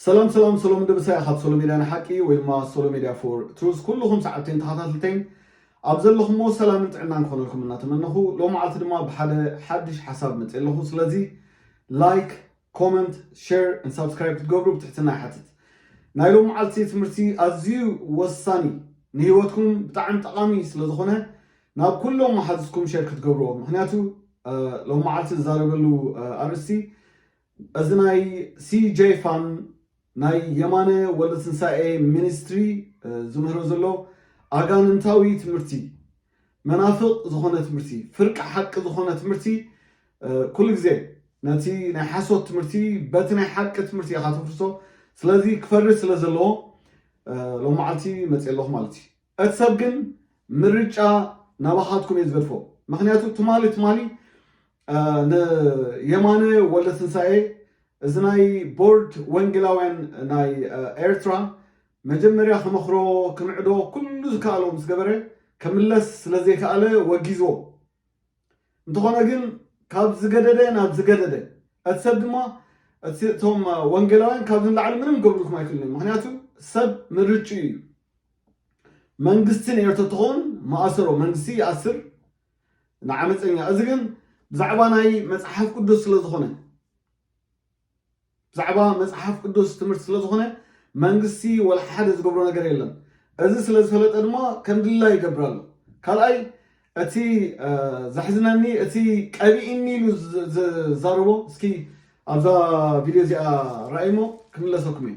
ሰላም ሰላም ሰሎም ድብሳይ ካብ ሶሎ ሜድያ ንሓቂ ወይ ድማ ሶሎ ሜድያ ፎር ትሩዝ ኩልኹም ሰዓብትን ተኸታተልተይን ኣብ ዘለኹምዎ ሰላምን ጥዕናን ክኾነልኩም እናተመነኹ ሎም መዓልቲ ድማ ብሓደ ሓድሽ ሓሳብ መፅ ኣለኹ ስለዚ ላይክ ኮመንት ሸር ን ሳብስክራይብ ክትገብሩ ብትሕትና ይሓትት ናይ ሎም መዓልቲ ትምህርቲ ኣዝዩ ወሳኒ ንሂወትኩም ብጣዕሚ ጠቃሚ ስለ ዝኮነ ናብ ኩሎም መሓዙትኩም ሸር ክትገብርዎ ምክንያቱ ሎም መዓልቲ ዝዛረበሉ ኣርእስቲ እዚ ናይ CJ Fan ናይ የማነ ወልደትንሳኤ ሚኒስትሪ ዝምህሮ ዘሎ ኣጋንንታዊ ትምህርቲ መናፍቅ ዝኾነ ትምህርቲ ፍርቂ ሓቂ ዝኾነ ትምህርቲ ኩሉ ግዜ ነቲ ናይ ሓሶት ትምህርቲ በቲ ናይ ሓቂ ትምህርቲ ኢኻ ተፍርሶ ስለዚ ክፈርስ ስለ ዘለዎ ሎም መዓልቲ መፅ ኣለኹ ማለት እዩ እቲ ሰብ ግን ምርጫ ናባኻትኩም እየ ዝገድፎ ምክንያቱ ትማሊ ትማሊ ንየማነ ወልደትንሳኤ እዚ ናይ ቦርድ ወንጌላውያን ናይ ኤርትራ መጀመርያ ክመኽሮ ክምዕዶ ኩሉ ዝከኣሎ ምስ ገበረ ከምለስ ስለ ዘይከኣለ ወጊዝዎ እንተኾነ ግን ካብ ዝገደደ ናብ ዝገደደ እቲ ሰብ ድማ እቶም ወንጌላውያን ካብዚ ንላዕሊ ምንም ገብሩልኩም ኣይክእልን እዮም ምክንያቱ ሰብ ምርጭኡ እዩ መንግስቲ ንኤርትራ ተኾን ማእሰሮ መንግስቲ ይኣስር ንዓመፀኛ እዚ ግን ብዛዕባ ናይ መፅሓፍ ቅዱስ ስለ ዝኾነ ብዛዕባ መፅሓፍ ቅዱስ ትምህርቲ ስለ ዝኾነ መንግስቲ ወላ ሓደ ዝገብሮ ነገር የለን እዚ ስለ ዝፈለጠ ድማ ከም ድላ ይገብር ኣሎ ካልኣይ እቲ ዘሕዝነኒ እቲ ቀቢእኒ ኢሉ ዝዛረቦ እስኪ ኣብዛ ቪድዮ እዚኣ ራእይሞ ክምለሰኩም እዩ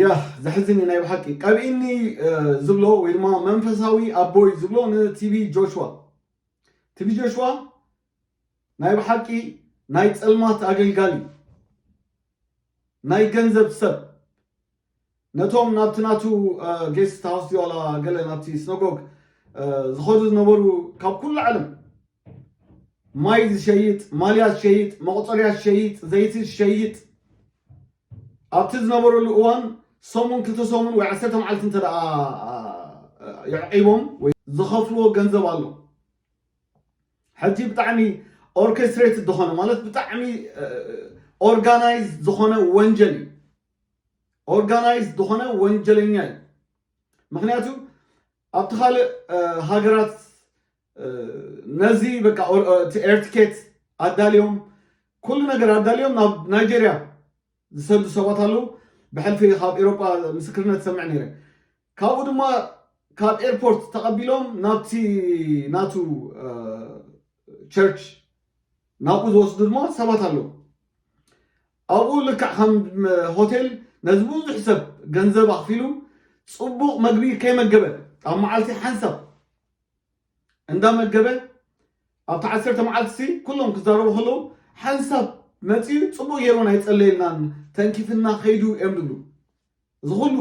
ያህ ዘሕዝን እዩ ናይ ብሓቂ ቀብኢኒ ዝብሎ ወይ ድማ መንፈሳዊ ኣቦይ ዝብሎ ንቲቪ ጆሽዋ ቲቪ ጆሽዋ ናይ ብሓቂ ናይ ፀልማት ኣገልጋሊ ናይ ገንዘብ ሰብ ነቶም ናብቲ ናቱ ጌስትሃውስድዩ ዋላ ገለ ናብቲ ስነጎግ ዝኸዱ ዝነበሩ ካብ ኩሉ ዓለም ማይ ዝሸይጥ፣ ማልያ ዝሸይጥ፣ መቑጸርያ ዝሸይጥ፣ ዘይቲ ዝሸይጥ ኣብቲ ዝነበረሉ እዋን ሰሙን ክልተ ሰሙን ወይ ዓሰርተ መዓልቲ እንተ የዕቂቦም ወይ ዝኸፍልዎ ገንዘብ ኣሎ ሕጂ ብጣዕሚ ኦርኬስትሬትድ ዝኾነ ማለት ብጣዕሚ ኦርጋናይዝ ዝኾነ ወንጀል እዩ ኦርጋናይዝድ ዝኾነ ወንጀለኛ እዩ ምክንያቱ ኣብቲ ካልእ ሃገራት ነዚ በቃ ኤርትኬት ኣዳልዮም ኩሉ ነገር ኣዳልዮም ናብ ናይጀርያ ዝሰዱ ሰባት ኣለዉ ብሕልፊ ካብ ኤሮጳ ምስክርነት ሰምዕ ነይረ ካብኡ ድማ ካብ ኤርፖርት ተቐቢሎም ናብቲ ናቱ ቸርች ናብኡ ዝወስዱ ድማ ሰባት ኣለዉ ኣብኡ ልክዕ ከም ሆቴል ነዚ ብዙሕ ሰብ ገንዘብ ኣኽፊሉ ጽቡቕ መግቢ ከይመገበ ኣብ መዓልቲ ሓንሳብ እንዳመገበ ኣብቲ ዓሰርተ መዓልቲ ኩሎም ክዛረቡ ከለዉ ሓንሳብ መፅኡ ጽቡቕ ገይሩ ኣይጸለየልናን ተንኪፍና ከይዱ እዮም ዝብሉ እዚ ኩሉ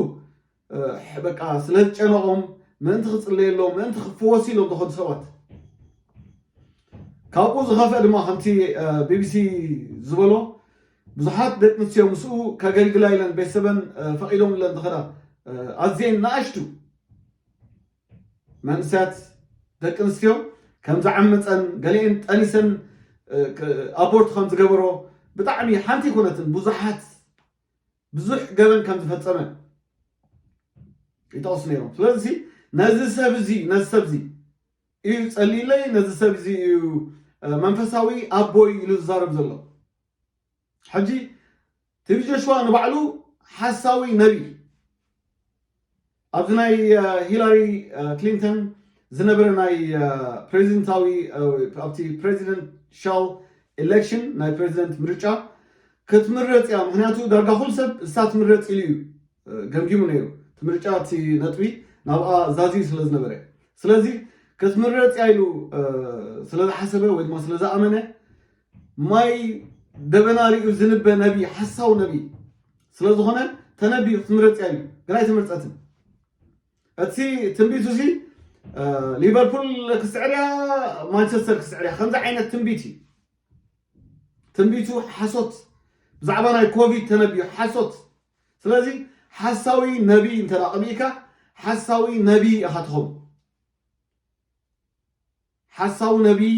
በቃ ስለ ዝጨነቆም ምእንቲ ክጽለየሎም ምእንቲ ክፍወሱ ኢሎም ዝኸዱ ሰባት ካብኡ ዝኸፍአ ድማ ከምቲ ቢቢሲ ዝበሎ ብዙሓት ደቂ ኣንስትዮ ምስኡ ከገልግላ ኢለን ቤተሰበን ፈቒዶምለን ዝኸዳ ኣዝየን ንኣሽቱ መንእሰያት ደቂ ኣንስትዮ ከም ዝዓመፀን ገሊአን ጠኒሰን ኣቦርት ከም ዝገበሮ ብጣዕሚ ሓንቲ ኣይኮነትን ብዙሓት ብዙሕ ገበን ከም ዝፈጸመ ይጠቕሱ ነይሮም። ስለዚ ነዚ ሰብ እዚ ነዚ ሰብ እዚ እዩ ጸሊለይ፣ ነዚ ሰብ እዚ እዩ መንፈሳዊ ኣቦይ ኢሉ ዝዛረብ ዘሎ። ሕጂ ቲቪ ጆሽዋ ንባዕሉ ሓሳዊ ነቢይ ኣብዚ ናይ ሂላሪ ክሊንተን ዝነበረ ናይ ፕሬዚደንታዊ ኣብቲ ፕሬዚደንሻል ኤሌክሽን ናይ ፕሬዚደንት ምርጫ ክትምረፅ እያ ምክንያቱ ዳርጋ ኩሉ ሰብ እሳ ትምረፅ ኢሉ እዩ ገምጊሙ ነይሩ እቲ ምርጫ እቲ ነጥቢ ናብኣ ዛዝዩ ስለ ዝነበረ ስለዚ ክትምረፅ እያ ኢሉ ስለ ዝሓሰበ ወይ ድማ ስለ ዝኣመነ ማይ ደበና ሪኡ ዝንበ ነብይ ሓሳዊ ነብይ ስለ ዝኾነ ተነቢዩ ክትምረፅ እያ ኢሉ ግን ኣይተመርፀትን እቲ ትንቢቱ እዚ ሊቨርፑል ክስዕር እያ ማንቸስተር ክስዕር እያ ከምዚ ዓይነት ትንቢት እዩ ትንቢቱ ሓሶት ብዛዕባ ናይ ኮቪድ ተነቢዩ ሓሶት ስለዚ ሓሳዊ ነቢይ እንተ ቀቢእካ ሓሳዊ ነቢይ ኢኻ ትኸውን ሓሳዊ ነብይ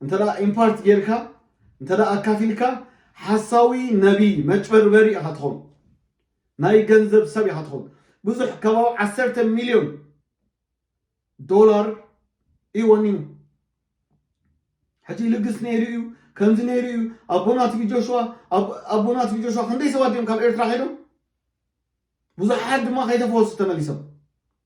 እንተ ኢምፓርት ጌርካ እንተ ኣካፊልካ ሓሳዊ ነብይ መጭበርበሪ ኢኻ ትኾን ናይ ገንዘብ ሰብ ኢኻ ትኾን ብዙሕ ከባቢ ዓሰርተ ሚልዮን ዶላር እዩ ወኒኑ ሕጂ ይልግስ ነይሩ እዩ ከምዚ ነይሩ እዩ ኣቦና ቲቪ ጆሽዋ ኣቦና ቲቪ ጆሽዋ ክንደይ ሰባት እዮም ካብ ኤርትራ ከይዶም ብዙሓት ድማ ከይተፈወሱ ተመሊሶም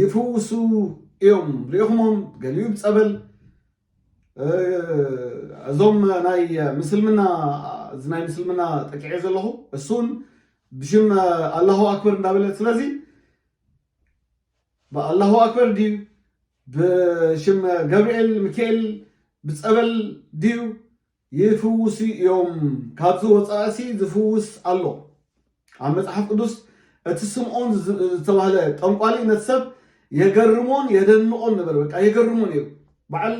ይፍውሱ እዮም ሪኢኹሞም ገሊኡ ብፀበል እዞም ናይ ምስልምና እዚ ናይ ምስልምና ጠቂዐ ዘለኹ እሱን ብሽም ኣላሁ ኣክበር እንዳበለ ስለዚ ብኣላሁ ኣክበር ድዩ ብሽም ገብርኤል ሚካኤል ብፀበል ድዩ ይፍውሱ እዮም ካብዚ ወፃእሲ ዝፍውስ ኣሎ ኣብ መፅሓፍ ቅዱስ እቲ ስምዖን ዝተባህለ ጠንቋሊ ነቲ ሰብ የገርሞን የደንቆን ነበር በቃ የገርሞ ነይሩ በዓል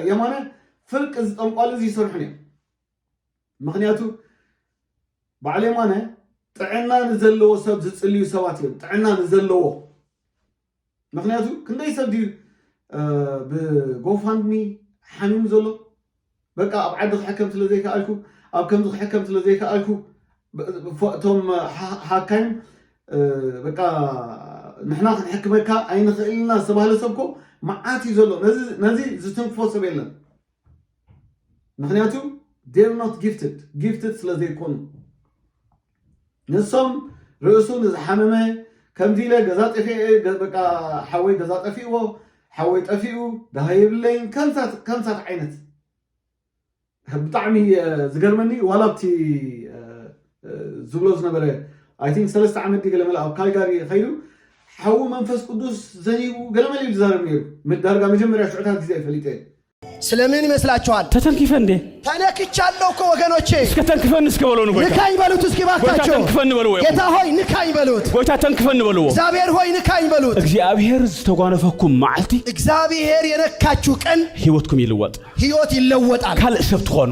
የማነ ፍርቂ እዚ ጠንቋሊ እዚ ይሰርሑ ነይሩ ምክንያቱ በዓል የማነ ጥዕና ንዘለዎ ሰብ ዝፅልዩ ሰባት እዮም ጥዕና ንዘለዎ ምክንያቱ ክንደይ ሰብ ድዩ ብጎፋንድሚ ሓሚሙ ዘሎ በቃ ኣብ ዓዲ ክሕከም ስለ ዘይከኣልኩ ኣብ ከምዚ ክሕከም ስለ ዘይከኣልኩ እቶም ሓካይም በቃ ንሕና ክንሕክመካ ኣይንኽእልና ዝተባህለ ሰብኮ መዓት እዩ ዘሎ ነዚ ዝትንክፎ ሰብ የለን ምክንያቱ they are not gifted gifted ስለ ዘይኮኑ ንሶም ርእሱ ንዝሓመመ ከምዚ ኢለ ገዛ ጠፊኤ በቃ ሓወይ ገዛ ጠፊእዎ ሓወይ ጠፊኡ ድሃ የብለይን ከምሳት ዓይነት ብጣዕሚ ዝገርመኒ ዋላ ኣብቲ ዝብሎ ዝነበረ ኣይ ቲንክ ሰለስተ ዓመት ድዩ ገለመለ ኣብ ካልጋሪ ከይዱ ሓዊ መንፈስ ቅዱስ ዘኒቡ ገለመለ እዩ ዝዛረብ ነይሩ ዳርጋ መጀመርያ ሽዑታት ግዜ ይፈሊጠ እዩ ስለምን ይመስላችኋል? ተተንኪፈ እንዴ ተነክቻለሁ እኮ ወገኖቼ። እስከ ተንክፈን እስከ በለው ንጎይታ ንካኝ በሉት እስኪ ባካቸው። ጎይታ ተንክፈን በለው። ጌታ ሆይ ንካኝ በሉት። ጎይታ ተንክፈን በለው። እግዚአብሔር ሆይ ንካኝ በሉት። እግዚአብሔር ዝተጓነፈኩም መዓልቲ፣ እግዚአብሔር የነካችሁ ቀን ህይወትኩም ይልወጥ፣ ህይወት ይለወጣል፣ ካልእ ሰብ ትኾኑ።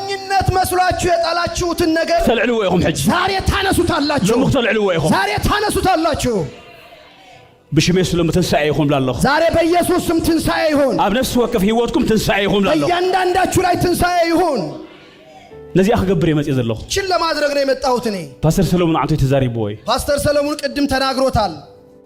ሞኝነት መስሏችሁ የጣላችሁትን ነገር ክተልዕልዎ ኢኹም ሕጂ ዛሬ ታነሱታላችሁ። ሎሚ ክተልዕልዎ ኢኹም ዛሬ ታነሱታላችሁ። ብሽም የሱስ ሎሚ ትንሳኤ ይኹን ብላ ኣለኹ ዛሬ በኢየሱስ ስም ትንሣኤ ይሁን። ኣብ ነፍሲ ወከፍ ህይወትኩም ትንሳኤ ይኹን ብላ ኣለኹ በእያንዳንዳችሁ ላይ ትንሣኤ ይሁን። ነዚኣ ክገብር እየ መፅእ ዘለኹ ችን ለማድረግ ነው የመጣሁት እኔ። ፓስተር ሰለሙን ዓንቶ ተዛሪብዎ እዩ ፓስተር ሰለሞን ቅድም ተናግሮታል።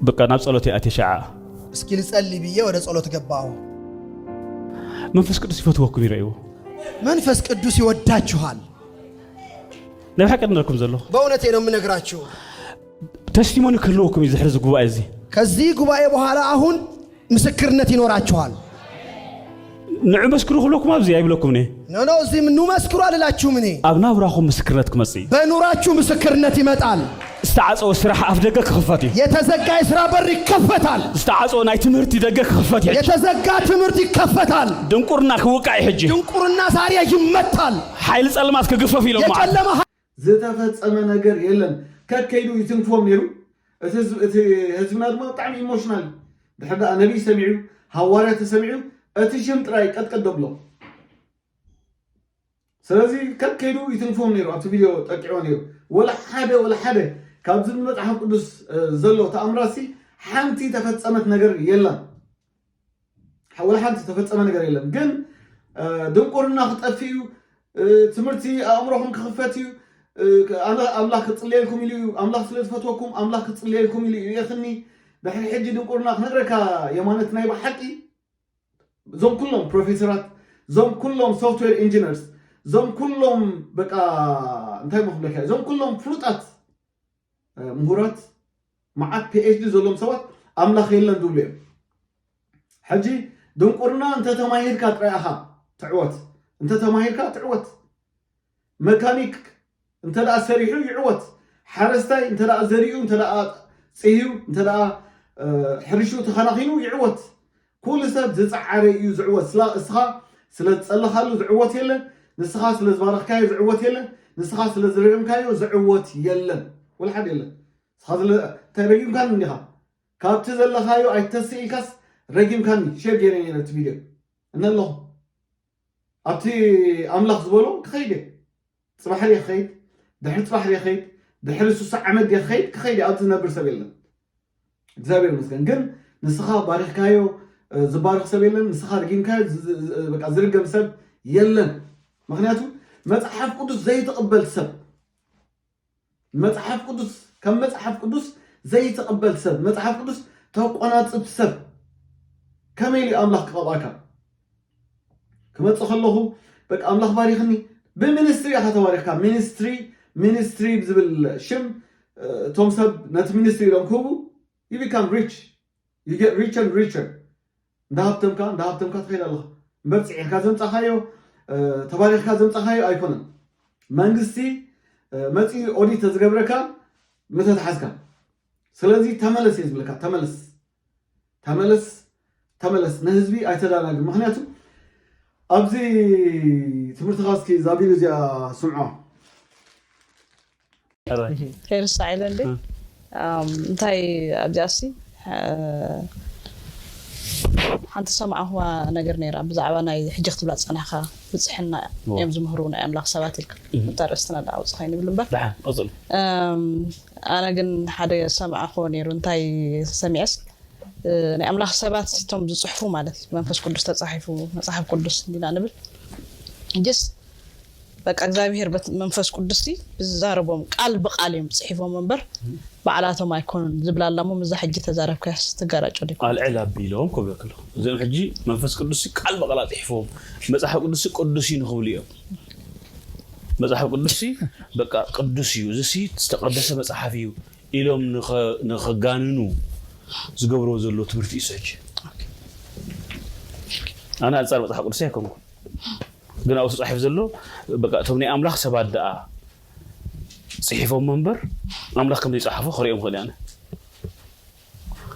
በቃ ናብ ጸሎት ይኣቲ ሸዓ እስኪ ልጸሊ ብዬ ወደ ጸሎት ገባሁ። መንፈስ ቅዱስ ይፈትወኩም ይረእይዎ መንፈስ ቅዱስ ይወዳችኋል። ናይ ብሓቂ ንረኩም ዘለኹ በእውነቴ ነው የምነግራችሁ። ተስቲሞኒ ክህልወኩም እዩ ዝሕዚ ጉባኤ እዚ ከዚህ ጉባኤ በኋላ አሁን ምስክርነት ይኖራችኋል። ንዑ መስክሩ ክብለኩም ኣብዚ ኣይብለኩምን እየ። ኖ ኖ እዚ ኑ መስክሩ ኣልላችሁም እኔ። ኣብ ናብራኹም ምስክርነት ክመጽእ እዩ። በኑራችሁ ምስክርነት ይመጣል። ዝተዓጸወ ስራሕ ኣፍ ደገ ክኽፈት እዩ። የተዘጋ የስራ በር ይከፈታል። ዝተዓጸወ ናይ ትምህርቲ ደገ ክኽፈት እዩ። የተዘጋ ትምህርት ይከፈታል። ድንቁርና ክውቃዕ እዩ ሕጂ። ድንቁርና ዛሬ ይመታል። ሓይሊ ጸልማት ክግፈፍ እዩ ሎማ። የጨለማ ዝተፈጸመ ነገር የለን ከከ ኢሉ ይትንክፎም ነይሩ እቲ እቲ ህዝብና ድማ ብጣዕሚ ኢሞሽናል እዩ ድሕር ደኣ ነቢይ ሰሚዑ ሃዋርያ ተሰሚዑ እቲ ሽም ጥራይ ቀጥቀጥ ደብሎ ስለዚ ከከይዱ ይትንክፎም ነይሩ ኣብቲ ቪድዮ ጠቂዖ ነይሩ ወላ ሓደ ወላ ሓደ ካብዚ መጽሓፍ ቅዱስ ዘሎ ተኣምራሲ ሓንቲ ተፈጸመት ነገር የላን ወላ ሓንቲ ዝተፈፀመ ነገር የለን። ግን ድንቁርና ክጠፍእ እዩ፣ ትምህርቲ ኣእምሮኹም ክኽፈት እዩ፣ ኣምላኽ ክፅለየልኩም ኢሉ እዩ፣ ኣምላኽ ስለ ዝፈትወኩም ኣምላኽ ክፅለየልኩም ኢሉ እዩ የኽኒ ድሕሪ ሕጂ ድንቁርና ክነግረካ የማነት ናይ ብሓቂ እዞም ኩሎም ፕሮፌሰራት እዞም ኩሎም ሶፍትዌር ኢንጂነርስ እዞም ኩሎም በቃ እንታይ መክብለካ እዞም ኩሎም ፍሉጣት ምሁራት መዓት ፒኤችዲ ዘለዎም ሰባት ኣምላኽ የለን ዝብሉ እዮም ሕጂ ድንቁርና እንተ ተማሂርካ ጥራይ ኢኻ ትዕወት እንተ ተማሂርካ ትዕወት መካኒክ እንተ ደኣ ሰሪሑ ይዕወት ሓረስታይ እንተ ደኣ ዘሪኡ እንተ ደኣ ፅህዩ እንተ ደኣ ሕርሹ ተኸናኺኑ ይዕወት ኩሉ ሰብ ዝጸዓረ እዩ ዝዕወት ስላ እስኻ ስለ ዝጸለኻሉ ዝዕወት የለን ንስኻ ስለ ዝባረኽካዮ ዝዕወት የለን ንስኻ ስለ ዝረገምካዮ ዝዕወት የለን ወልሓድ የለን ንስኻ ስለ እንታይ ረጊምካኒ እንዲኻ ካብቲ ዘለኻዮ ኣይተስእ ኢልካስ ረጊምካኒ ሼር ገይረ ነቲ ቪድዮ እነ ኣለኹ ኣብቲ ኣምላኽ ዝበሎ ክኸይድ እየ ጽባሕ ድየ ክኸይድ ድሕሪ ጽባሕ ድየ ክኸይድ ድሕሪ ስሳ ዓመት ድየ ክኸይድ ክኸይድ እየ ኣብዚ ዝነብር ሰብ የለን እግዚኣብሔር ይመስገን ግን ንስኻ ባሪኽካዮ ዝባርኽ ሰብ የለን ንስኻ ርጊምካዮ ዝርገም ሰብ የለን ምክንያቱ መፅሓፍ ቅዱስ ዘይትቕበል ሰብ መጽሓፍ ቅዱስ ከም መጽሓፍ ቅዱስ ዘይትቕበል ሰብ መጽሓፍ ቅዱስ ተቆናጽብ ሰብ ከመይ ኢሉ ኣምላኽ ክቐብኣካ ክመጽእ ከለኹ በቃ ኣምላኽ ባሪኽኒ ብሚኒስትሪ ኢኻ ተባሪኽካ ሚኒስትሪ ሚኒስትሪ ዝብል ሽም እቶም ሰብ ነቲ ሚኒስትሪ ኢሎም ክህቡ ዩ ቢካም ሪች You get richer and richer እንዳሃብተምካ እንዳሃብተምካ ትኸይድ ኣለኻ እምበር ፅዒርካ ዘምፃኻዮ ተባሪኽካ ዘምፃኻዮ ኣይኮነን መንግስቲ መፅኡ ኦዲት ተዝገብረካ ምተትሓዝካ ስለዚ ተመለስ እየ ዝብለካ ተመለስ ተመለስ ተመለስ ንህዝቢ ኣይተዳናግር ምክንያቱ ኣብዚ ትምህርትኻ እስኪ ዛቢሉ እዚኣ ስምዖ ከይርሳዕ ኢለ እንዴ እንታይ ኣብዚኣሲ ሓንቲ ሰማዕኹዋ ነገር ነይራ ብዛዕባ ናይ ሕጂ ክትብላ ዝጸናሕካ ብጽሕና እዮም ዝምህሩ ናይ ኣምላኽ ሰባት ኢልካ እታ ርእስትና ዳ ውጽ ኮይኑ ይብል እምበር ኣነ ግን ሓደ ሰማዕኹዎ ነይሩ እንታይ ሰሚዐስ ናይ ኣምላኽ ሰባት እቶም ዝጽሕፉ ማለት መንፈስ ቅዱስ ተጻሒፉ መጽሓፍ ቅዱስ እንዲና ንብል ጅስ በቃ እግዚኣብሄር በት መንፈስ ቅዱስቲ ብዝዛረቦም ቃል ብቃል እዮም ጽሒፎም እምበር ባዕላቶም ኣይኮኑን ዝብላ ኣላ እሞ ምዛ ሕጂ ተዛረብካያስ ትጋራጮ ዲኩም ኣልዕል ኣቢሎም ክብለኪ ኣለኹ እዚኦም ሕጂ መንፈስ ቅዱስ ቃል ብቃል ኣጽሒፎም መጽሓፍ ቅዱስ ቅዱስ እዩ ንክብሉ እዮም መጽሓፍ ቅዱስ በቃ ቅዱስ እዩ እዚ ዝተቀደሰ መጽሓፍ እዩ ኢሎም ንኸጋንኑ ዝገብርዎ ዘሎ ትምህርቲ እዩ ሰጅ ኣነ ኣንጻር መጽሓፍ ቅዱስ ኣይኮንኩም ግን ኣብኡ ተጻሒፉ ዘሎ በቃ እቶም ናይ ኣምላኽ ሰባት ደኣ ጽሒፎሞ እምበር ኣምላኽ ከም ዘይጸሓፎ ክርእዮ ምኽእል ኣነ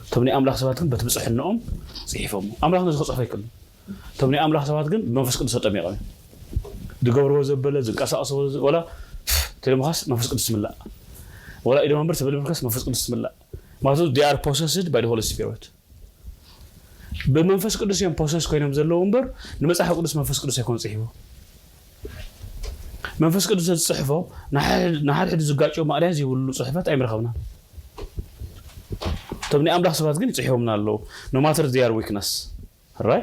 እቶም ናይ ኣምላኽ ሰባት ግን በቲ ብጽሕናኦም ጽሒፎሞ ኣምላኽ ነዚ ክጽሕፎ ኣይክእልን እቶም ናይ ኣምላኽ ሰባት ግን ብመንፈስ ቅዱስ ተጠሚቖም ዝገብርዎ ዘበለ ዝንቀሳቐስዎ ወላ ተለምኻስ መንፈስ ቅዱስ ምላእ ወላ ኢዶም እምበር ተበልምርከስ መንፈስ ቅዱስ ምላእ ማለት ዲኣር ፖሰስድ ባይ ሆሊ ስፒሪት ብመንፈስ ቅዱስ እዮም ፖሰስ ኮይኖም ዘለዉ እምበር ንመጽሓፍ ቅዱስ መንፈስ ቅዱስ ኣይኮነ ጽሒፉ መንፈስ ቅዱስ ዘዝጽሕፎ ንሓድሕዱ ዝጋጮ ማእርያ ዘይብሉ ጽሑፋት ኣይምረኸብና እቶም ናይ ኣምላኽ ሰባት ግን ይጽሒቦምና ኣለዉ ኖማተር ዚያር ዊክነስ ራይ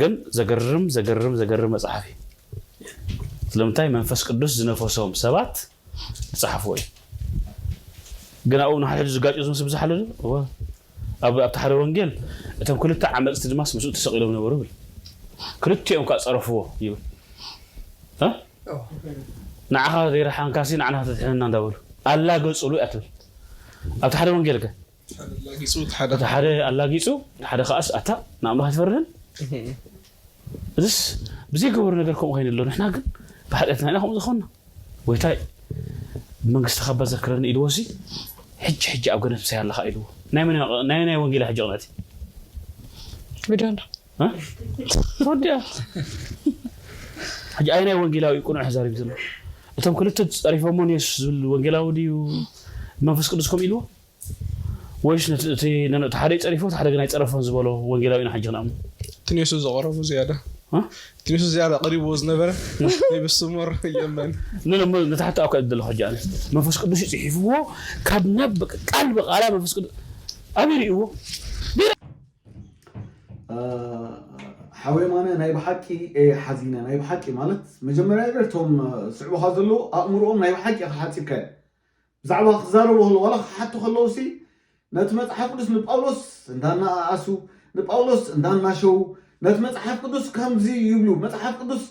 ግን ዘገርም ዘገርም ዘገርም መጽሓፍ እዩ ስለምንታይ መንፈስ ቅዱስ ዝነፈሶም ሰባት ዝጸሓፎ እዩ ግን ኣብኡ ንሓድሕዱ ዝጋጭ ዝመስ ብዝሓለ እወ ኣብ ኣብቲ ሓደ ወንጌል እቶም ክልተ ዓመጽቲ ድማስ ምስኡ ተሰቒሎም ነበሩ ይብል ክልቲኦም ከዓ ጸረፍዎ ይብል ንዓኻ ዘይረሓንካሲ ንዓና ተድሕነና እንዳበሉ ኣላገጽሉ እያ ትብል ኣብቲ ሓደ ወንጌል ከ እቲ ሓደ ኣላጊጹ እቲ ሓደ ከኣስ ኣታ ንኣምላኽ ኣይትፈርህን እዚስ ብዘይገበሩ ነገር ከምኡ ኮይኑ ኣሎ ንሕና ግን ብሓጢኣትና ኢና ከምኡ ዝኾንና ጎይታይ መንግስትኻ እባ ዘክረኒ ኢልዎ ሲ ሕጂ ሕጂ ኣብ ገነት ምሳይ ኣለኻ ኢልዎ ናይ ናይ ወንጌላ ሕጂ ቅንዕቲ ተወዲኣ ሕጂ ኣይ ናይ ወንጌላዊ ቅኑዕ ተዛሪቡ ዘሎ እቶም ክልተ ፀሪፎሞ ንየሱስ ዝብል ወንጌላዊ ድዩ መንፈስ ቅዱስ ከምኡ ኢልዎ ወይስ ነቲ እቲ ነን እቲ ሓደ ይጸሪፎ እቲ ሓደ ግን ኣይጸረፎን ዝበሎ ወንጌላዊ ኢና ሕጂ ክንኣምኖ? እቲ ንየሱስ ዘቐረቦ ዝያዳ እ? እቲ ንየሱስ ዝያዳ ቀሪብዎ ዝነበረ ናይ ብሱ ሞር የመን። ኖ ኖ እሞ ነታ ሕቶ ኣብካ እየ ዘለኹ ሕጂ ኣነ መንፈስ ቅዱስ እዩ ጽሒፍዎ ካብ ናብ በቃ ቃል ብቓላ መንፈስ ቅዱስ ኣበይ ርእይዎ ጌና ሓው የማነ ናይ ብሓቂ እየ ሓዚነ ናይ ብሓቂ ማለት መጀመርያ ነገር እቶም ዝስዕቡኻ ዘለዉ ኣእምሮኦም ናይ ብሓቂ ኢኻ ሓጺብካዮ ብዛዕባ ክዛረቡ ከለዉ ዋላ ክሓቱ ከለዉሲ ነቲ መጽሓፍ ቅዱስ ንጳውሎስ እንዳናኣኣሱ ንጳውሎስ እንዳናሸዉ ነቲ መጽሓፍ ቅዱስ ከምዚ ይብሉ መጽሓፍ ቅዱስ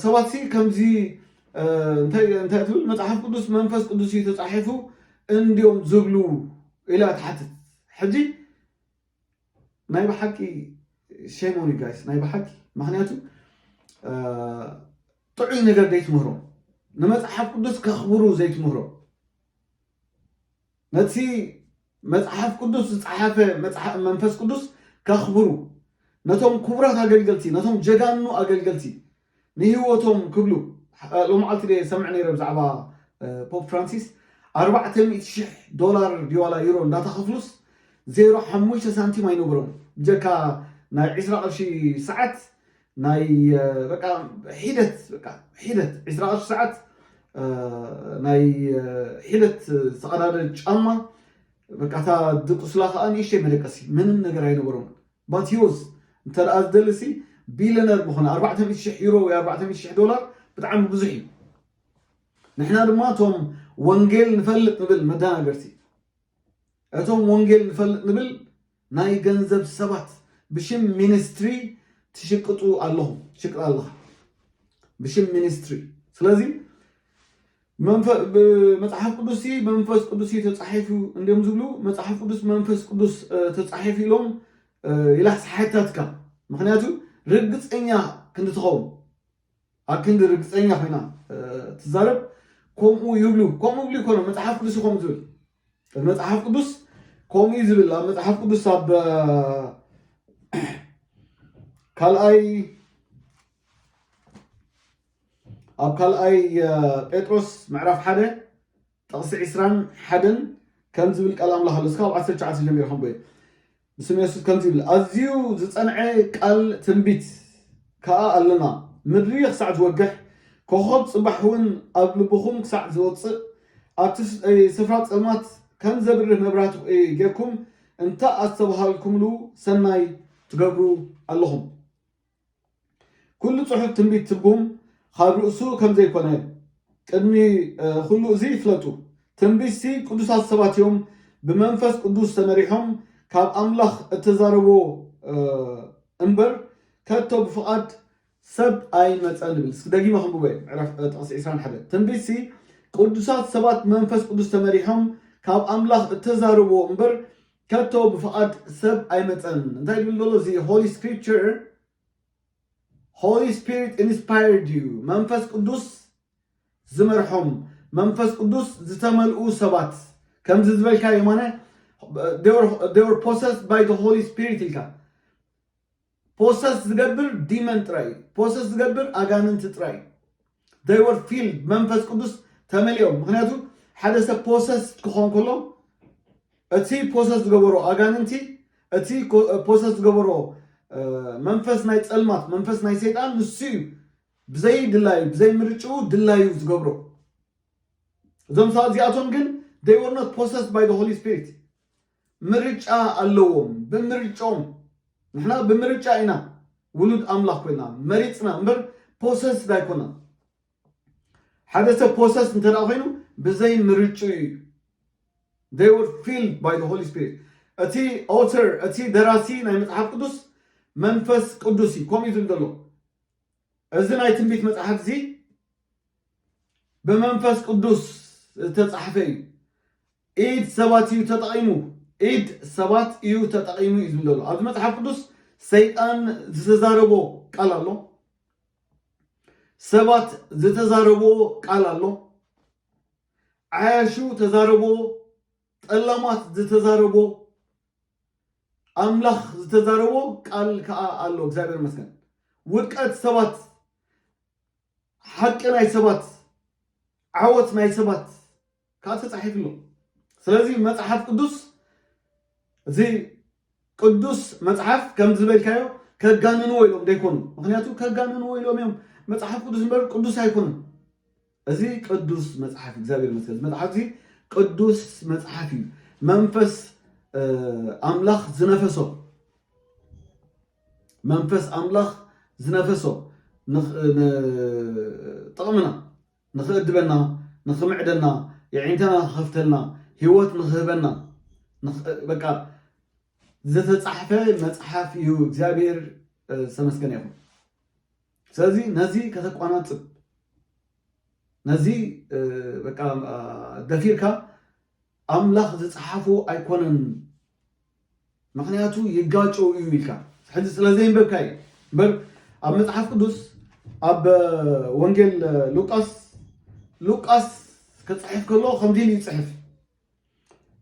ሰባት ሲ ከምዚ እንታይ ትብል መጽሓፍ ቅዱስ መንፈስ ቅዱስ እዩ ተጻሒፉ እንዲዮም ዝብሉ ኢላ ትሓትት ሕጂ ናይ ብሓቂ ሼም ኦን ዩ ጋይስ ናይ ብሓቂ ምክንያቱ ጥዑይ ነገር ዘይትምህሮም ንመፅሓፍ ቅዱስ ከኽብሩ ዘይትምህሮም ነቲ መፅሓፍ ቅዱስ ዝፀሓፈ መንፈስ ቅዱስ ከኽብሩ ነቶም ክቡራት ኣገልገልቲ ነቶም ጀጋኑ ኣገልገልቲ ንህይወቶም ክብሉ ሎማዓልቲ ድየ ዝሰምዕ ነይረ ብዛዕባ ፖፕ ፍራንሲስ ኣርባዕተ ሚእቲ ሽሕ ዶላር ድዋላ ዩሮ እንዳተኸፍሉስ ዜሮ ሓሙሽተ ሳንቲም ኣይነበሮም ብጀካ ናይ ዕስራ ቅርሺ ሰዓት ናይ በቃ ሒደት በቃ ሒደት ዕስራ ቅርሺ ሰዓት ናይ ሒደት ዝተቀዳደ ጫማ በቃ እታ ድቁስላ ከዓ ንእሽተይ መደቀሲ ምንም ነገር ኣይነበሮም ማቲዎስ እንተ ደኣ ዝደሊሲ ቢልየነር ምኾነ፣ ኣርባዕተ ሚእቲ ሽሕ ዩሮ ወይ ኣርባዕተ ሚእቲ ሽሕ ዶላር ብጣዕሚ ብዙሕ እዩ። ንሕና ድማ እቶም ወንጌል ንፈልጥ ንብል መዳናገርቲ እቶም ወንጌል ንፈልጥ ንብል ናይ ገንዘብ ሰባት ብሽም ሚኒስትሪ ትሽቅጡ ኣለኹም ትሽቅጥ ኣለኻ ብሽም ሚኒስትሪ ስለዚ መጽሓፍ ቅዱስሲ ብመንፈስ ቅዱስ እዩ ተጻሒፉ እንድዮም ዝብሉ መጽሓፍ ቅዱስ ብመንፈስ ቅዱስ ተጻሒፉ ኢሎም ይላሕ ሰሓታትካ ምክንያቱ ርግፀኛ ክንዲ ትኸውን ኣብ ክንዲ ርግፀኛ ኮይና ትዛረብ ከምኡ ይብሉ ከምኡ ብሉ ይኮኑ መፅሓፍ ቅዱስ ይኮም ዝብል መፅሓፍ ቅዱስ ከምኡ እዩ ዝብል ኣብ መፅሓፍ ቅዱስ ኣብ ካልኣይ ኣብ ካልኣይ ጴጥሮስ ምዕራፍ ሓደ ጥቕሲ ዕስራን ሓደን ከምዚ ዝብል ቃል ኣምላኽ ኣሎ እስካብ ዓሰርተ ትሽዓተ ጀሚረ ከምቦየ ብስም የሱስ ከምዚ ይብል ኣዝዩ ዝጸንዐ ቃል ትንቢት ከኣ ኣለና ምድሪ ክሳዕ ዝወግሕ ኮኸብ ጽባሕ እውን ኣብ ልብኹም ክሳዕ ዝወፅእ ኣብቲ ስፍራ ጸልማት ከም ዘብርህ መብራህቲ ጌርኩም እንተ ኣስተብሃልኩምሉ ሰናይ ትገብሩ ኣለኹም ኩሉ ጽሑፍ ትንቢት ትርጉም ኻብ ርእሱ ከም ዘይኮነ ቅድሚ ኹሉ እዚ ፍለጡ። ትንቢትሲ ቅዱሳት ሰባት እዮም ብመንፈስ ቅዱስ ተመሪሖም ካብ ኣምላኽ እተዛረብዎ እምበር ከቶ ብፍቓድ ሰብ ኣይመጸን ይብል። እስኪ ደጊመ ከንብቦ እየ ምዕራፍ ጥቕሲ ዕስራን ሓደን። ትንቢትሲ ቅዱሳት ሰባት ብመንፈስ ቅዱስ ተመሪሖም ካብ ኣምላኽ እተዛረብዎ እምበር ከቶ ብፍቓድ ሰብ ኣይመጸን እንታይ ድብል ዘሎ እዚ ሆሊ ስክሪፕቸር ሆሊ ስፒሪት ኢንስፓየርድ እዩ መንፈስ ቅዱስ ዝመርሖም መንፈስ ቅዱስ ዝተመልኡ ሰባት ከምዚ ዝበልካ የማነ ፖሰስ ባይ ሆሊ ስፒሪት ኢልካ ፖሰስ ዝገብር ዲመን ጥራይ እዩ ፖሰስ ዝገብር ኣጋንንቲ ጥራይ እዩ they were filled መንፈስ ቅዱስ ተመሊኦም ምክንያቱ ሓደ ሰብ ፖሰስ ክኾን ከሎ እቲ ፖሰስ ዝገበሮ ኣጋንንቲ እቲ ፖሰስ ዝገበሮ መንፈስ ናይ ፀልማት መንፈስ ናይ ሰይጣን ንሱ እዩ ብዘይ ድላዩ ብዘይ ምርጭኡ ድላዩ ዝገብሮ እዞም ሰባት እዚኣቶም ግን they were not possessed by the holy spirit ምርጫ ኣለዎም ብምርጭኦም ንሕና ብምርጫ ኢና ውሉድ ኣምላኽ ኮይና መሪጽና እምበር ፖሰስድ ኣይኮናን ሓደ ሰብ ፖሰስ እንተ ኮይኑ ብዘይ ምርጭኡ እዩ they were filled by the holy spirit እቲ ኦተር እቲ ደራሲ ናይ መጽሓፍ ቅዱስ መንፈስ ቅዱስ እዩ ከምኡ ዝብል ዘሎ እዚ ናይ ትንቢት መጽሓፍ እዚ ብመንፈስ ቅዱስ ዝተጻሕፈ እዩ ኢድ ሰባት እዩ ተጠቒሙ ኢድ ሰባት እዩ ተጠቒሙ እዩ ዝብል ዘሎ ኣብዚ መፅሓፍ ቅዱስ ሰይጣን ዝተዛረቦ ቃል ኣሎ ሰባት ዝተዛረቦ ቃል ኣሎ ዓያሹ ተዛረቦ ጠላማት ዝተዛረቦ ኣምላኽ ዝተዛረቦ ቃል ከዓ ኣሎ እግዚኣብሔር ይመስገን ውድቀት ሰባት ሓቂ ናይ ሰባት ዓወት ናይ ሰባት ካብ ተጻሒፍሉ ስለዚ መጽሓፍ ቅዱስ እዚ ቅዱስ መጽሓፍ ከም ዝበልካዮ ከጋንንዎ ኢሎም ዘይኮኑ ምክንያቱ ከጋንንዎ ኢሎም እዮም መጽሓፍ ቅዱስ እምበር ቅዱስ ኣይኮኑን እዚ ቅዱስ መጽሓፍ እግዚኣብሔር መስገን መጽሓፍ እዚ ቅዱስ መጽሓፍ እዩ መንፈስ ኣምላኽ ዝነፈሶ መንፈስ ኣምላኽ ዝነፈሶ ጥቕምና ንኽእድበና፣ ንኽምዕደና፣ የዒንተና ክኸፍተልና፣ ህይወት ንኽህበና፣ በቃ ዝተጻሕፈ መጽሓፍ እዩ እግዚኣብሔር ዝተመስገነ ይኹን። ስለዚ ነዚ ከተቋናጽብ ነዚ በቃ ደፊርካ ኣምላኽ ዝጸሓፎ ኣይኮነን ምኽንያቱ ይጋጨው እዩ ኢልካ ሕዚ ስለ ዘየንበብካ እዩ እምበር ኣብ መጽሓፍ ቅዱስ ኣብ ወንጌል ሉቃስ ሉቃስ ክጽሕፍ ከሎ ከምዚ ኢሉ ይጽሕፍ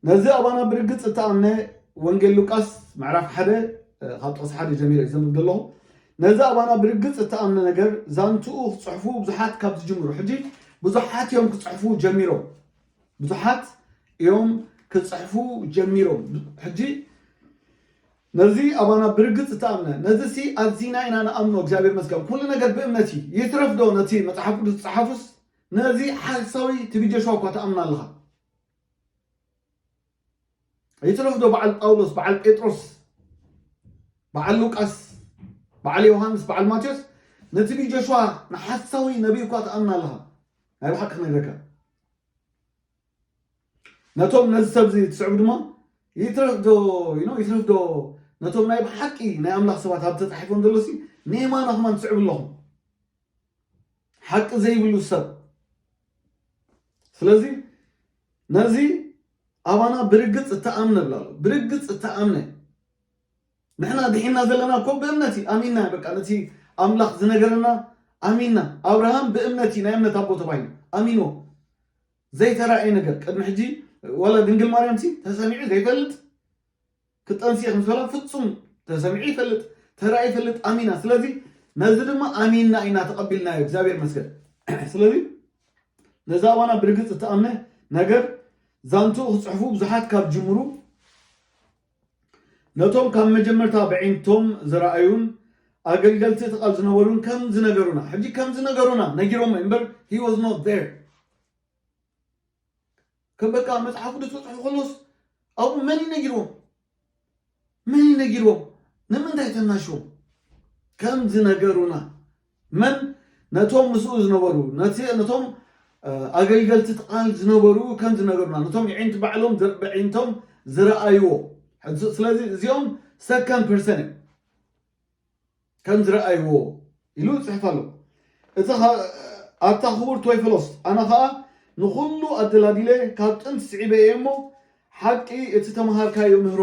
ነዚ ኣባና ብርግጽ እተኣምነ ወንጌል ሉቃስ ምዕራፍ ሓደ ካብ ጥቕሲ ሓደ ጀሚረ እዩ ዘንብብ ዘለኹ ነዚ ኣባና ብርግጽ እተኣምነ ነገር ዛንትኡ ክጽሕፉ ብዙሓት ካብ ዝጅምሩ ሕጂ ብዙሓት እዮም ክጽሕፉ ጀሚሮም ብዙሓት እዮም ክጽሕፉ ጀሚሮም ሕጂ ነዚ ኣባና ብርግጽ ተኣምነ ነዚ ሲ ኣዚና ኢና ንኣምኖ እግዚኣብሔር መስገን ኩሉ ነገር ብእምነት እዩ ይትረፍ ዶ ነቲ መጽሓፍ ቅዱስ ዝጸሓፉስ ነዚ ሓሳዊ ትቢ ጆሽዋ እኳ ተኣምና ኣለኻ ይትረፍ ዶ በዓል ጳውሎስ በዓል ጴጥሮስ በዓል ሉቃስ በዓል ዮሃንስ በዓል ማቴዎስ ነትቢ ጆሽዋ ንሓሳዊ ነቢይ እኳ ተኣምና ኣለኻ ናይ ብሓቂ ክነግረካ ነቶም ነዚ ሰብ እዚ ትስዕቡ ድማ ይትረፍ ዶ ይትረፍ ዶ ነቶም ናይ ብሓቂ ናይ ኣምላኽ ሰባት ኣብ ተጻሒፎም ዘሎ ሲ ንየማና ኹማ ትስዕቡ ኣለኹም ሓቂ ዘይብሉ ሰብ ስለዚ ነዚ ኣባና ብርግጽ እተኣምነ ብላ ኣሎ ብርግጽ እተኣምነ ንሕና ድሒንና ዘለና እኮ ብእምነት እዩ ኣሚንና በቃ ነቲ ኣምላኽ ዝነገረና ኣሚንና ኣብርሃም ብእምነት እዩ ናይ እምነት ኣቦ ተባሂሉ ኣሚንዎ ዘይተራእየ ነገር ቅድሚ ሕጂ ዋላ ድንግል ማርያም ሲ ተሰሚዑ ዘይፈልጥ ክጠንሲ እየ ከምስበላ ፍጹም ተሰሚዑ ይፈልጥ ተራእዩ ይፈልጥ ኣሚና ስለዚ ነዚ ድማ ኣሚንና ኢና ተቐቢልናዮ እግዚኣብሔር መስገን ስለዚ ነዛ ዋና ብርግፅ እትኣምነ ነገር ዛንትኡ ክፅሕፉ ብዙሓት ካብ ጅምሩ ነቶም ካብ መጀመርታ በዒንቶም ዝረኣዩን ኣገልገልቲ እቲ ቃል ዝነበሩን ከም ዝነገሩና ሕጂ ከም ዝነገሩና ነጊሮሞ እምበር he was not there ከም በቃ መጽሓፍ ቅዱስ ተጽሑ ከሎስ ኣብኡ መን እዩ ነጊርዎም መን እዩ ነጊርዎም ንምንታይ ተናሽዎም ከም ዝነገሩና መን ነቶም ምስኡ ዝነበሩ፣ ነቲ ነቶም ኣገልገልቲ እቲ ቃል ዝነበሩ ከምዚ ነገሩና፣ ነቶም የዒንቲ ባዕሎም ዘ በዒንቶም ዝረኣይዎ። ሕዚ ስለዚ እዚኦም ሰከንድ ፐርሰን እዮም። ከም ዝረኣይዎ ኢሉ ይጽሕፍ ኣሎ። እቲ ኸ- ኣታ ክቡር ቶይፈሎስ ኣነ ኸኣ ንኹሉ ኣደላዲለ ካብ ጥንቲ ስዒበ እየ እሞ ሓቂ እቲ ተመሃርካዮ ምህሮ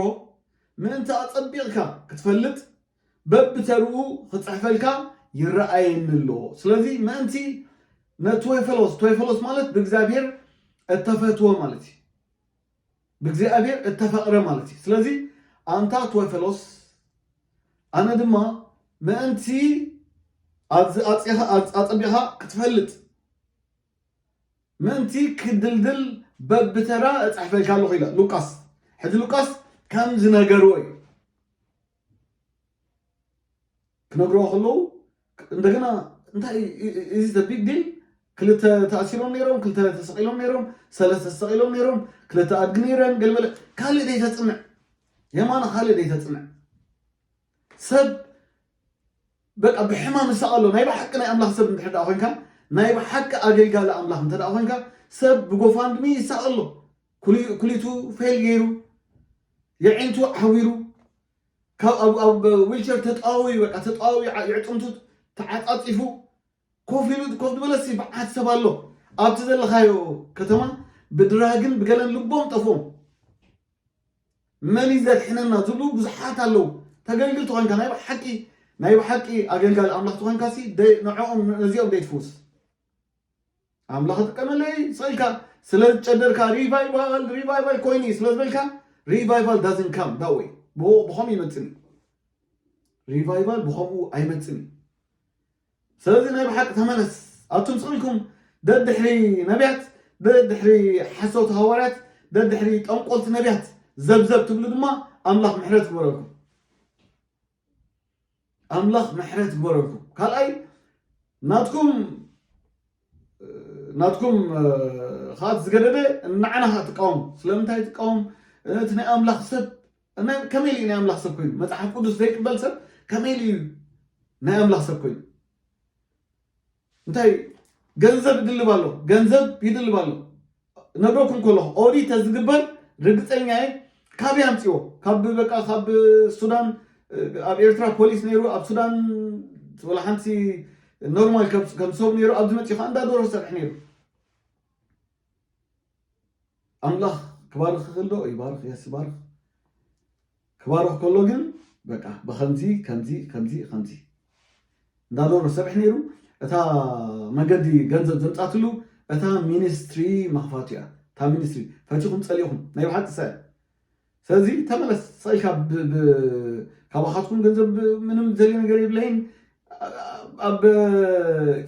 ምእንቲ ኣጸቢቕካ ክትፈልጥ በብተርኡ ክጽሕፈልካ ይረኣየኒ ኣሎ። ስለዚ ምእንቲ ነቶይፈሎስ ቶይፈሎስ ማለት ብእግዚኣብሔር እተፈትወ ማለት እዩ። ብእግዚኣብሔር እተፈቕረ ማለት እዩ። ስለዚ ኣንታ ቶይፈሎስ ኣነ ድማ ምእንቲ ኣብዚ ኣጽኻ ኣጸቢኻ ክትፈልጥ ምእንቲ ክድልድል በብተራ እጽሕፈልካ ኣለኹ ኢላ ሉቃስ ሕጂ ሉቃስ ከም ዝነገርዎ እዩ ክነግርዎ ከለዉ እንደገና እንታይ ኢዚ ዘ ቢግ ዲል ክልተ ተኣሲሮም ነይሮም ክልተ ተሰቂሎም ነይሮም ሰለስተ ተሰቂሎም ነይሮም ክልተ ኣድጊ ነይረን ገለበለ ካልእ ደይተፅንዕ የማነ ካልእ ደይተፅንዕ ሰብ በቃ ብሕማም ይሰቐሎ ናይ ብሓቂ ናይ ኣምላኽ ሰብ እንድሕር ደኣ ኮንካ ናይ ብሓቂ ኣገልጋሊ ኣምላኽ እንተ ደኣ ኮንካ ሰብ ብጎፋንድሚ ይሰቐሎ ኩሊቱ ፌል ገይሩ የዒንቱ ዓዊሩ ካብ ኣብ ዊልቸር ተጠዋውዩ በቃ ተጠዋውዩ የዕፅምቱ ተዓፃፂፉ ኮፍ ኢሉ ኮፍ ዝበለሲ በዓት ሰብ ኣሎ ኣብቲ ዘለኻዮ ከተማ ብድራግን ብገለን ልቦም ጠፍኦም መን ዘድሕነና ዝብሉ ብዙሓት ኣለዉ ተገልግል ተኾንካ ናይ ብሓቂ ናይ ብሓቂ ኣገልጋሊ ኣምላኽ ተኾንካሲ ንዕኦም ነዚኦም ዘይትፍውስ ኣምላኽ ክጥቀመለይ ጸልካ ስለ ዝጨደርካ ሪቫይቫል ሪቫይቫል ኮይኑ ስለ ዝበልካ ሪቫይቫል ዳዝን ካም ዳ ወይ ብኸምኡ ይመፅን እዩ ሪቫይቫል ብኸምኡ ኣይመፅን እዩ ስለዚ ናይ ብሓቂ ተመለስ ኣቱም ስቕኢልኩም ደድሕሪ ነቢያት ደድሕሪ ሓሰውቲ ሃዋርያት ደድሕሪ ጠንቆልቲ ነቢያት ዘብዘብ ትብሉ ድማ ኣምላኽ ምሕረት ክበረልኩም ኣምላኽ ምሕረት ይግበረልኩም። ካልኣይ ናትኩም ናትኩም ከዓ ዝገደደ ንዓና ከዓ ትቃወሙ ስለምንታይ ትቃወም እቲ ናይ ኣምላኽ ሰብ ከመይ ኢሉ ናይ ኣምላኽ ሰብ ኮይኑ መፅሓፍ ቅዱስ ዘይቅበል ሰብ ከመይ ኢሉ እዩ ናይ ኣምላኽ ሰብ ኮይኑ እንታይ ገንዘብ ይድልብ ኣሎ ገንዘብ ይድልብ ኣሎ ነግረኩም ከለኹ ኦዲት ተዝግበር ርግፀኛ እየ ካበይ ኣምፅዎ ካብ በቃ ካብ ሱዳን ኣብ ኤርትራ ፖሊስ ነይሩ ኣብ ሱዳን ወላ ሓንቲ ኖርማል ከም ሰብ ነይሩ ኣብዚ መፅኡ ከዓ እንዳ ዶሮ ዝሰርሕ ነይሩ ኣምላኽ ክባርኽ ይኽእል ዶ? ይባርኽ የስ ይባርኽ። ክባርኽ ከሎ ግን በቃ ብከምዚ ከምዚ ከምዚ ከምዚ እንዳዶሮ ዝሰርሕ ነይሩ እታ መንገዲ ገንዘብ ዘምፃትሉ እታ ሚኒስትሪ መኽፋቱ እያ እታ ሚኒስትሪ ፈቲኹም ፀሊእኹም ናይ ብሓቂ ሰ ሰለዚ ተመለስ ስቅ ኢልካ ካባካትኩም ገንዘብ ምንም ዝደልዮ ነገር የብለይን ኣብ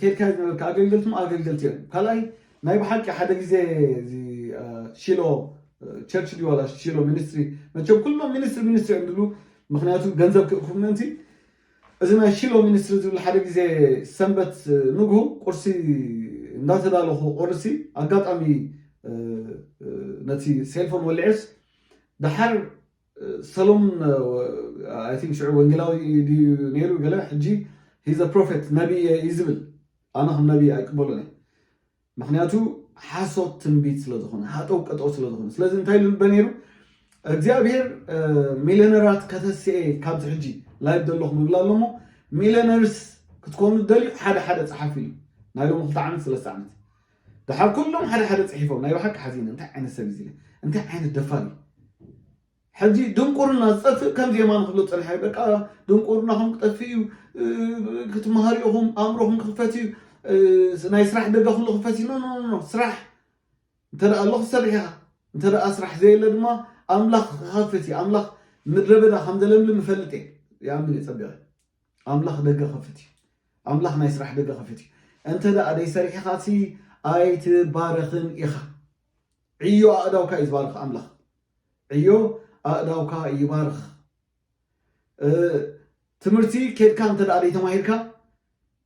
ኬድካ እዩ ዝነበርካ ኣገልገልቲ እሞ ኣገልገልቲ እዮም ካልኣይ ናይ ብሓቂ ሓደ ግዜ እዚ ሺሎ ቸርች ድዩ ዋላ ሺሎ ሚኒስትሪ መቸም ኩሎም ሚኒስትሪ ሚኒስትሪ እዮም ዝብሉ ምክንያቱ ገንዘብ ክእክቡ ምእንቲ እዚ ናይ ሺሎ ሚኒስትሪ ዝብል ሓደ ግዜ ሰንበት ንግሁ ቁርሲ እንዳተዳለኹ ቆርሲ ኣጋጣሚ ነቲ ሴልፎን ወሊዐስ ደሓር ሰሎሙን ኣይ ቲንክ ሽዑ ወንጌላዊ ድዩ ነይሩ ገለ ሕጂ ሂዘ ፕሮፌት ነቢ እየ እዩ ዝብል ኣነ ከም ነቢ ኣይቅበሎን እየ ምክንያቱ ሓሶት ትንቢት ስለ ዝኾነ ሃጠው ቀጠው ስለ ዝኾነ ስለዚ እንታይ ኢሉ ንበ ነይሩ እግዚኣብሔር ሚሊዮነራት ከተስኤ ካብዚ ሕጂ ላይብ ዘለኹም ይብላ ኣሎሞ ሚሊዮነርስ ክትኮኑ ደልዩ ሓደ ሓደ ፀሓፍ ኢሉ ናይ ሎሚ ክልተ ዓመት ሰለስተ ዓመት ድሓር ኩሎም ሓደ ሓደ ፅሒፎም ናይ ብሓቂ ሓዚነ እንታይ ዓይነት ሰብ እዩ እንታይ ዓይነት ደፋር እዩ ሕጂ ድንቁርና ዝጠፍእ ከምዚ የማን ክብሎ ጸንሐ በቃ ድንቁርናኹም ክጠፍእ እዩ ክትመሃሩ ኢኹም ኣእምሮኹም ክኽፈት እዩ ናይ ስራሕ ደገ ኩሉ ክፈት እዩ ኖኖኖ ስራሕ እንተ ኣሎ ክትሰርሕ ኢኻ እንተ ስራሕ ዘየለ ድማ ኣምላኽ ክኸፍት እዩ ኣምላኽ ምድረ በዳ ከም ዘለምልም እፈልጥ እየ ይኣምን እየ ጸቢቐ ኣምላኽ ደገ ክኸፍት እዩ ኣምላኽ ናይ ስራሕ ደገ ክኸፍት እዩ እንተ ደኣ ደይሰሪሕኻሲ ኣይትባረኽን ኢኻ ዕዮ ኣእዳውካ እዩ ዝባርኽ ኣምላኽ ዕዮ ኣእዳውካ ይባርኽ። ትምህርቲ ኬድካ እንተ ዘይተማሂርካ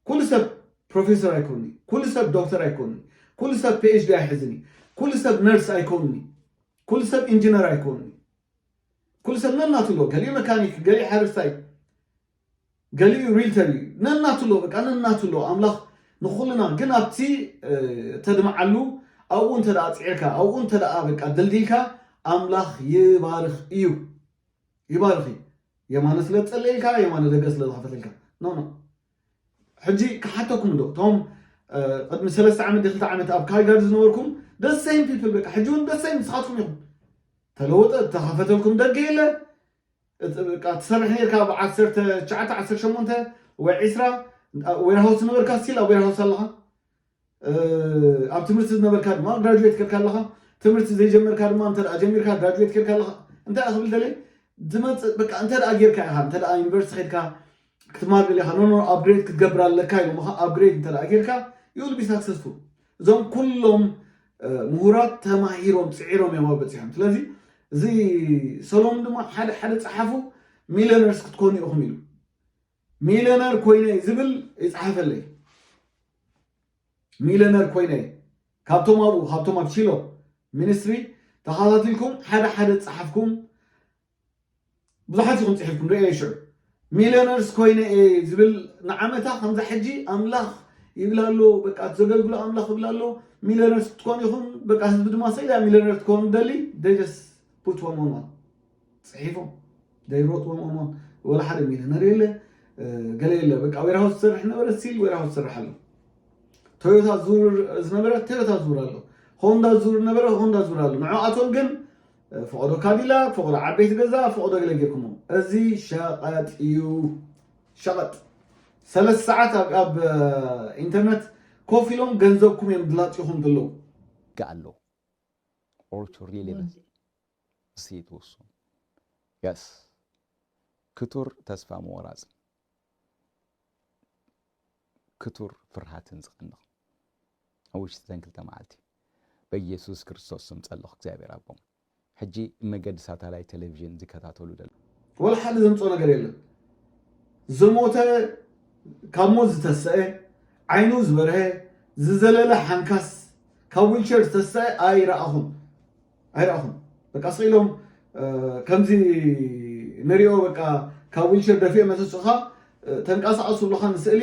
ኩሉ ሰብ ፕሮፌሰር ኣይኮኑን እዩ። ኩሉ ሰብ ዶክተር ኣይኮኑን እዩ። ኩሉ ሰብ ፒኤችዲ ኣይሕዝን እዩ። ኩሉ ሰብ ነርስ ኣይኮኑን እዩ። ኩሉ ሰብ ኢንጂነር ኣይኮኑን እዩ። ኩሉ ሰብ ነናቱ ኣሎ። ገሊኡ መካኒክ፣ ገሊኡ ሓረስታይ፣ ገሊኡ ሪልተር እዩ ነናትሎ በቃ ነናትሎ ኣምላኽ ንኹልና ግን ኣብቲ ተድምዓሉ ኣብኡ እንተ ፅዒርካ ኣብኡ እንተ በቃ ደልዲልካ ኣምላኽ ይባርኽ እዩ ይባርኽ እዩ የማነ ስለ ዝፀለየልካ የማነ ደገ ስለ ዝኸፈተልካ ኖ ኖ ሕጂ ክሓተኩም ዶ እቶም ቅድሚ ሰለስተ ዓመት ክልተ ዓመት ኣብ ካልጋሪ ዝነበርኩም ደሰይም ፒፕል በቃ ሕጂ እውን ደሰይም ንስኻትኩም ኢኹም ተለወጠ ተኸፈተልኩም ደገ የለ በቃ ትሰርሕ ኔርካ ኣብ ዓሰርተ ትሽዓተ ዓሰርተ ሸሞንተ ወይ ዕስራ ኣብ ዌርሃውስ ዝነበርካ ስቲል ኣብ ዌርሃውስ ኣለኻ ኣብ ትምህርቲ ዝነበርካ ድማ ግራጁዌት ኬርካ ኣለኻ ትምህርቲ ዘይጀመርካ ድማ እንተ ጀሚርካ ግራጁዌት ኬርካ ኣለኻ እንታይ ክብል ደልየ ዝመፅእ በቃ እንተ ጌርካ ኢኻ እንተ ዩኒቨርሲቲ ኬድካ ክትማቅል ኢኻ ኖኖ ኣፕግሬድ ክትገብር ኣለካ ኢሎምኻ ኣፕግሬድ እንተ ጌርካ ዩ ዊል ቢ ሳክሰስፉል እዞም ኩሎም ምሁራት ተማሂሮም ፅዒሮም እዮም ኣብ በፂሖም ስለዚ እዚ ሰሎም ድማ ሓደ ሓደ ፀሓፉ ሚሊዮነርስ ክትኮኑ ኢኹም ኢሉ ሚሊዮነር ኮይነ ዝብል ይፅሓፈለይ ሚሊዮነር ኮይነ ካብቶም ኣብኡ ካብቶም ኣብ ቺሎ ሚኒስትሪ ተኸታቲልኩም ሓደ ሓደ ፀሓፍኩም ብዙሓት ኢኹም ጽሒፍኩም ርእየዮ ሽዑ ሚልዮነርስ ኮይነ እየ ዝብል ንዓመታ ከምዛ ሕጂ ኣምላኽ ይብል ኣሎ በቃ ዘገልግሎ ኣምላኽ ይብል ኣሎ ሚልዮነርስ ክትኮኑ ኢኹም በቃ ህዝቢ ድማ ሰኢላ ሚልዮነር ትኮኑ ደሊ ደጀስ ፑትዎም ኦንዋን ጽሒፎም ዘይሮጥዎም ኦንዋን ወላ ሓደ ሚልዮነር የለ ገለ የለ በቃ ዌርሃውስ ዝሰርሕ ነበረ ሲል ዌርሃውስ ዝሰርሕ ኣሎ ቶዮታ ዙር ዝነበረ ቶዮታ ዙር ኣሎ ሆንዳ ዙር ነበረ ሆንዳ ዙር ኣሎ ንዕኣቶም ግን ፈቐዶ ካዲላክ ፈቐዶ ዓበይቲ ገዛ ፈቐዶ ገለ ጌርኩሞ እዚ ሸቐጥ እዩ ሸቐጥ ሰለስተ ሰዓት ኣብ ኣብ ኢንተርነት ኮፍ ኢሎም ገንዘብኩም እዮም ድላፂኹም ዘለዉ Gallo. Orcho Rile Situs. Yes. ክቱር ተስፋ ምወራፅ ክቱር ፍርሃትን ዝቐንቕ ኣብ ውሽጢ ዘን ክልተ መዓልቲ በኢየሱስ ክርስቶስ ስም ጸለኹ እግዚኣብሔር ኣቦም ሕጂ መገዲ ሳታላይ ቴሌቪዥን ዝከታተሉ ደለ ወላ ሓደ ዘምጾ ነገር የለን ዝሞተ ካብ ሞት ዝተሰአ ዓይኑ ዝበርሀ ዝዘለለ ሓንካስ ካብ ዊልቸር ዝተሰአ ኣይረኣኹን ኣይረኣኹን በቃ ስቅ ኢሎም ከምዚ ንሪኦ በቃ ካብ ዊልቸር ደፊኦ መተስእኻ ተንቀሳቐሱ ብለኻ ንስእሊ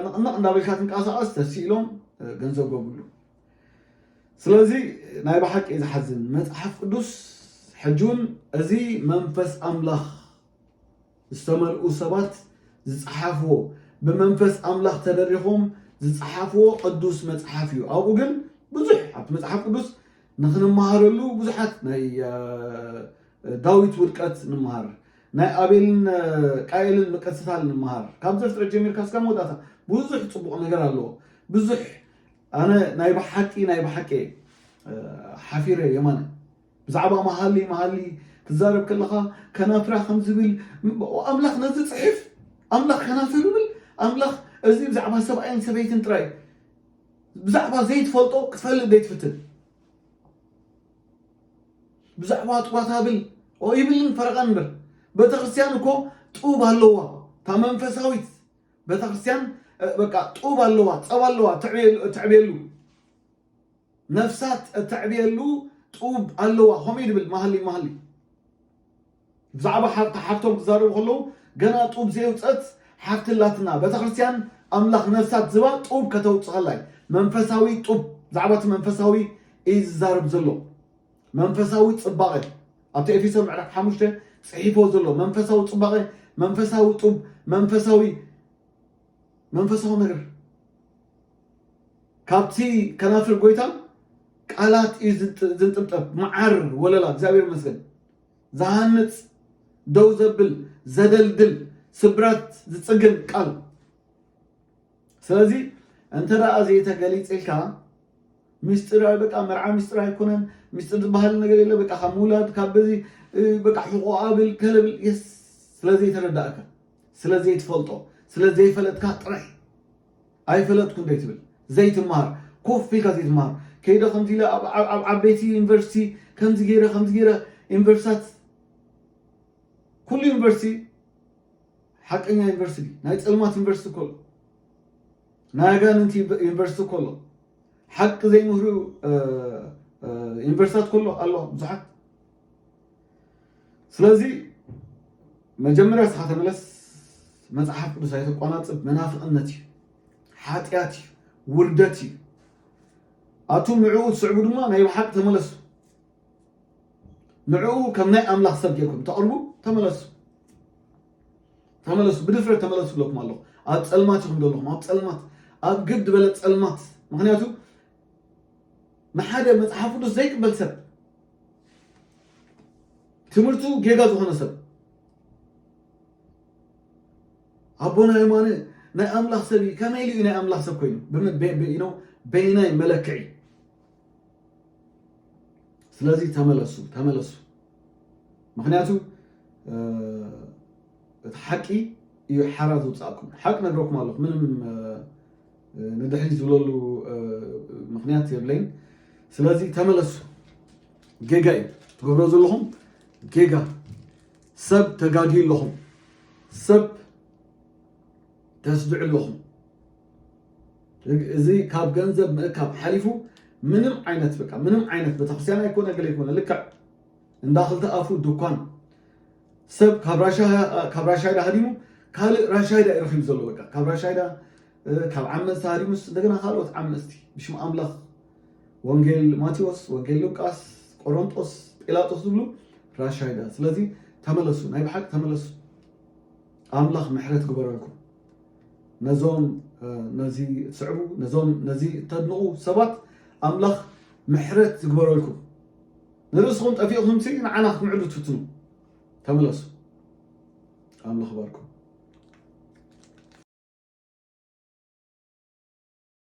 ንቕንቕ እንዳበልካ ትንቀሳቐስ ተሲኢሎም ገንዘብ ገብሉ ስለዚ ናይ ብሓቂ ዝሓዝን መፅሓፍ ቅዱስ ሕጂ እውን እዚ መንፈስ ኣምላኽ ዝተመልኡ ሰባት ዝጸሓፍዎ ብመንፈስ ኣምላኽ ተደሪኾም ዝጸሓፍዎ ቅዱስ መጽሓፍ እዩ ኣብኡ ግን ብዙሕ ኣብቲ መጽሓፍ ቅዱስ ንክንመሃረሉ ብዙሓት ናይ ዳዊት ውድቀት ንምሃር ናይ ኣቤልን ቃኤልን መቀስታል ንምሃር ካብ ዘፍጥረት ጀሚርካ እስካብ መወዳእታ ብዙሕ ፅቡቅ ነገር ኣለዎ ብዙሕ ኣነ ናይ ብሓቂ ናይ ብሓቂ ሓፊረ የማነ ብዛዕባ መሃሊ መሃሊ ትዛረብ ከለኻ ከናፍራ ከም ዝብል ኣምላኽ ነዚ ጽሕፍ ኣምላኽ ከናፍር ይብል ኣምላኽ እዚ ብዛዕባ ሰብኣይን ሰበይትን ጥራይ ብዛዕባ ዘይትፈልጦ ክትፈልጥ ዘይትፍትን ብዛዕባ ጥዋት ብል ይብልን ፈረቓን እምበር ቤተክርስትያን እኮ ጡብ ኣለዋ እታ መንፈሳዊት ቤተክርስትያን በቃ ጡብ ኣለዋ ፀባ ኣለዋ ትዕብየሉ ነፍሳት እተዕብየሉ ጡብ ኣለዋ ከምኡ ድብል መሃሊ መሃሊ ብዛዕባ ሓብታ ሓፍቶም ክዛረቡ ከለዉ ገና ጡብ ዘየውፀት ሓፍቲ ኣላትና ቤተክርስትያን ኣምላኽ ነፍሳት ዝባ ጡብ ከተውፅእ ከላ እዩ መንፈሳዊ ጡብ ብዛዕባ እቲ መንፈሳዊ እዩ ዝዛረብ ዘሎ መንፈሳዊ ፅባቐ ኣብቲ ኤፌሶ ምዕራፍ ሓሙሽተ ፅሒፎ ዘሎ መንፈሳዊ ፅባቐ መንፈሳዊ ጡብ መንፈሳዊ መንፈሳዊ ነገር ካብቲ ከናፍር ጎይታ ቃላት እዩ ዝንጥብጠብ መዓር ወለላ እግዚኣብሔር ይመስገን ዝሃንፅ ደው ዘብል ዘደልድል ስብራት ዝፅግን ቃል ስለዚ እንተ ደኣ ዘይተገሊፅልካ ምስጢር በቃ መርዓ ምስጢር ኣይኮነን ምስጢር ዝበሃል ነገር የለ በቃ ካብ ምውላድ ካብ በዚ በቃ ሕቆ ኣብል ከለብል የስ ስለዘይተረዳእካ ስለ ዘይትፈልጦ ስለ ዘይፈለጥካ ጥራይ ኣይፈለጥኩን ዘይትብል ዘይትማሃር ኮፍ ኢልካ ዘይትማሃር ከይደ ከምዚ ኢለ ኣብ ዓበይቲ ዩኒቨርሲቲ ከምዚ ገይረ ከምዚ ገይረ ዩኒቨርሲታት ኩሉ ዩኒቨርሲቲ ሓቀኛ ዩኒቨርሲቲ ናይ ፀልማት ዩኒቨርሲቲ እኮ ናይ ኣጋንንቲ ዩኒቨርሲቲ እኮ ኣሎ ሓቂ ዘይምህሩ ዩኒቨርሲታት ከሎ ኣሎ ብዙሓት ስለዚ መጀመርያ እስኻ ተመለስ መፅሓፍ ቅዱስ ኣይተቋናፅብ መናፍቕነት እዩ ሓጢኣት እዩ ውርደት እዩ ኣቱም ንዕኡ ትስዕቡ ድማ ናይ ብሓቂ ተመለሱ ንዕኡ ከም ናይ ኣምላኽ ሰብ ጌርኩም ተቕርቡ ተመለሱ ተመለሱ ብድፍረት ተመለሱ ብለኩም ኣለኹ ኣብ ፀልማት ኢኹም ዘለኹም ኣብ ፀልማት ኣብ ግድ በለ ፀልማት ምክንያቱ ንሓደ መፅሓፍ ቅዱስ ዘይቅበል ሰብ ትምህርቱ ጌጋ ዝኾነ ሰብ ኣቦና የማነ ናይ ኣምላኽ ሰብ እዩ ከመይ ኢሉ እዩ ናይ ኣምላኽ ሰብ ኮይኑ ብኢኖ በይናይ መለክዒ ስለዚ ተመለሱ ተመለሱ ምክንያቱ እቲ ሓቂ እዩ ሓራ ዝውፃእኩም ሓቂ ነግረኩም ኣለኹ ምንም ንድሕሪት ዝብለሉ ምክንያት የብለይን ስለዚ ተመለሱ ጌጋ እዩ ትገብሮ ዘለኹም ጌጋ ሰብ ተጋድዩ ኣለኹም ሰብ ተስድዑ ኣለኹም እዚ ካብ ገንዘብ ምእካብ ሓሊፉ ምንም ዓይነት በቃ ምንም ዓይነት ቤተክርስትያን ኣይኮነ ገለ ኣይኮነ ልክዕ እንዳ ክልተ ኣፉ ድኳን ሰብ ካብ ራሻ ካብ ራሻይዳ ሃዲሙ ካልእ ራሻይዳ እዩ ረኺቡ ዘሎ በቃ ካብ ራሻይዳ ካብ ዓመፅቲ ሃዲሙስ እንደገና ካልኦት ዓመፅቲ ብሽም ኣምላኽ ወንጌል ማቴዎስ ወንጌል ሉቃስ ቆሮንጦስ ጲላጦስ ዝብሉ ራሻይዳ ስለዚ ተመለሱ ናይ ብሓቂ ተመለሱ ኣምላኽ ምሕረት ግበረልኩም ነዞም ነዚ ትስዕቡ ነዞም ነዚ ተድንቑ ሰባት ኣምላኽ ምሕረት ዝግበረልኩም ንርእስኹም ጠፊእኹምሲ ንዓና ክትምዕዱ ትፍትኑ ተመለሱ ኣምላኽ ይባርኩም